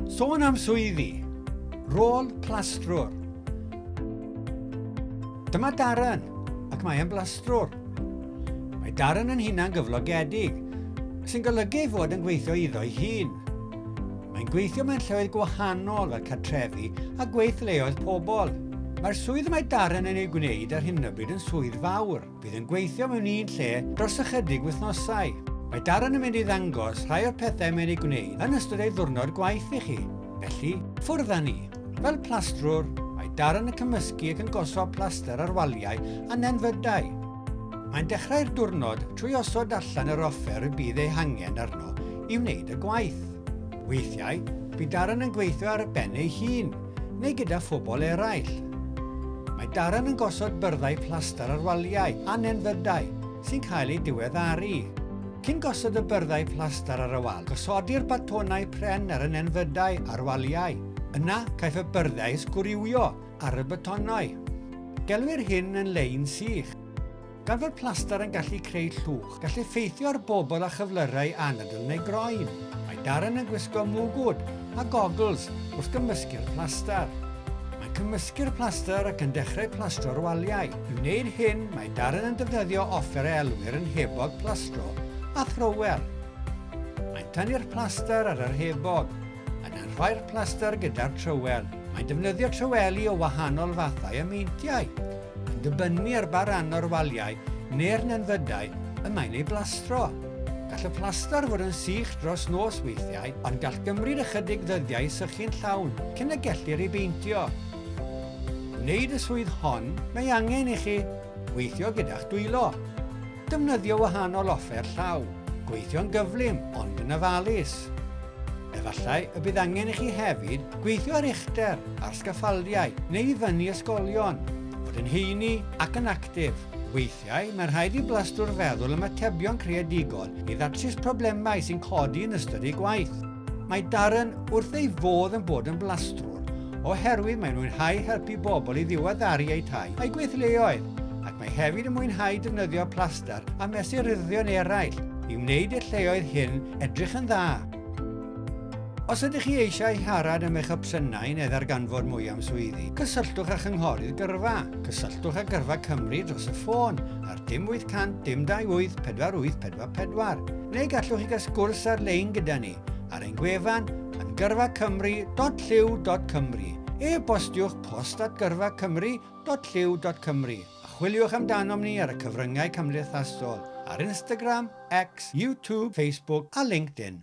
Sôn am swyddi. Rôl plastrwr. Dyma Darren, ac mae e'n blastrwr. Mae Darren yn hunan gyflogedig, sy'n golygu ei fod yn gweithio iddo'i hun. Mae'n gweithio mewn lleoedd gwahanol fel cartrefi a gweithleoedd pobl. Mae'r swydd mae Darren yn ei gwneud ar hyn o bryd yn swydd fawr. Bydd yn gweithio mewn un lle dros ychydig wythnosau. Mae Darren yn mynd i ddangos rhai o'r pethau mae'n ei gwneud yn ystod ei ddwrnod gwaith i chi. Felly, ffwrdd â ni. Fel plastrwr, mae Darren yn cymysgu ac yn gosod plaster ar waliau a nenfydau. Mae'n dechrau'r diwrnod trwy osod allan yr offer y bydd ei hangen arno i wneud y gwaith. Weithiau, bydd Darren yn gweithio ar y ben ei hun, neu gyda phobl eraill. Mae Darren yn gosod byrddau plaster ar waliau a nenfydau sy'n cael eu diweddaru. Cyn gosod y byrddau plaster ar y wal, gosodir batonau pren ar y nenfydau a'r waliau. Yna, caiff y byrddau eu sgwriwio ar y batonau. Gelwir hyn yn lein sych. Gan fod plaster yn gallu creu llwch, gall effeithio ar bobl â chyflyrau anadl neu groen. Mae Darren yn gwisgo mwgwd a gogls wrth gymysgu'r plaster. Mae'n cymysgu'r plaster ac yn dechrau plastro'r waliau. I wneud hyn, mae Darren yn defnyddio offer a elwir yn hebog plastro a thrower. Mae'n tynnu'r plaster ar yr hebog. Yn arfer plaster gyda'r trywel. Mae'n defnyddio tryweli o wahanol fathau a meintiau, yn dibynnu ar ba ran o'r waliau neu'r nenfydau y mae'n ei blastro. Gall y plaster fod yn sych dros nos weithiau, ond gall gymryd ychydig ddyddiau i sychu'n llawn cyn y gellir ei beintio. I wneud y swydd hon, mae angen i chi weithio gyda'ch dwylo. Defnyddio wahanol offer llaw, gweithio'n gyflym ond yn ofalus. Efallai y bydd angen i chi hefyd gweithio ar uchder, ar sgaffaldiau neu i fyny ysgolion, fod yn heini ac yn actif. Weithiau, mae'n rhaid i blastrwr feddwl am atebion creadigol i ddatrys problemau sy'n codi yn ystod eu gwaith. Mae Darren wrth ei fodd yn bod yn blastrwr oherwydd mae'n mwynhau helpu bobl i ddiweddaru eu tai a'u gweithleoedd ac mae hefyd yn mwynhau defnyddio plaster a mesuryddion eraill i wneud i'r lleoedd hyn edrych yn dda. Os ydych chi eisiau siarad am eich opsiynau neu ddarganfod mwy am swyddi, cysylltwch â Chynghorydd Gyrfa. Cysylltwch â Gyrfa Cymru dros y ffôn ar dim 800 dim 28 48 444, neu gallwch chi gael sgwrs ar-lein gyda ni ar ein gwefan yn gyrfacymru.llyw.cymru. E-bostiwch post at gyrfacymru.llyw.cymru a chwiliwch amdanom ni ar y cyfryngau cymdeithasol, ar Instagram, X, YouTube, Facebook a LinkedIn.